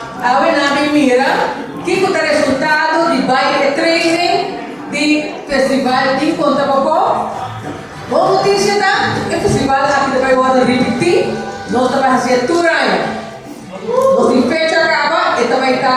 Awe nan bin mira kiko ta resultado di bai e training di festival tin konta Bokó. Bon noticia ta e festival aki ta bai wòrdu ripití, nos ta bai hasi e tur aña. Nos tin fecha kaba e ta bai ta.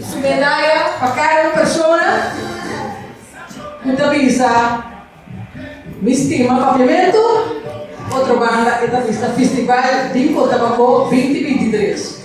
Su medaya pa kada un persona ku ta bisa, Mi stima Papiamentu, otro banda e ta bisa Festival di Cotabambó binti binti tres.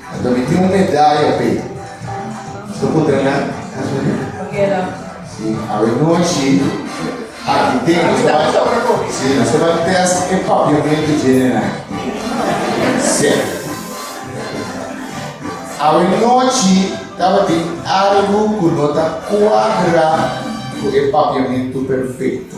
Nan ta miti un medaya p'e. Su putra nan ta suli? Pakeda. Si, awe nochi, aki te, nos ta ban, si, nos ta ban test e papiamento general. Si. Awe nochi tabatin algo ku no ta kuadra ku e papiamento perfekto.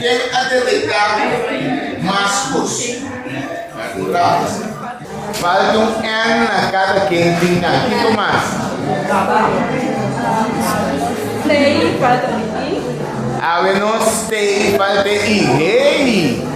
Ken a detecta mas cos? Falta un N na cada ken tin nan. Kiko mas? Awe no stay falta e i. Hey!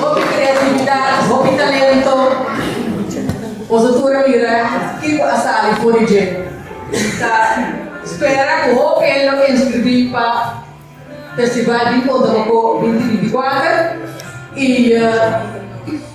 Hopi creatividad, hopi talento. Bo ta tur a mira ke ku a sali for di dje. Mi ta spera ku hopi hende lo inscribí pa Festival di Cotomoco 2024 i.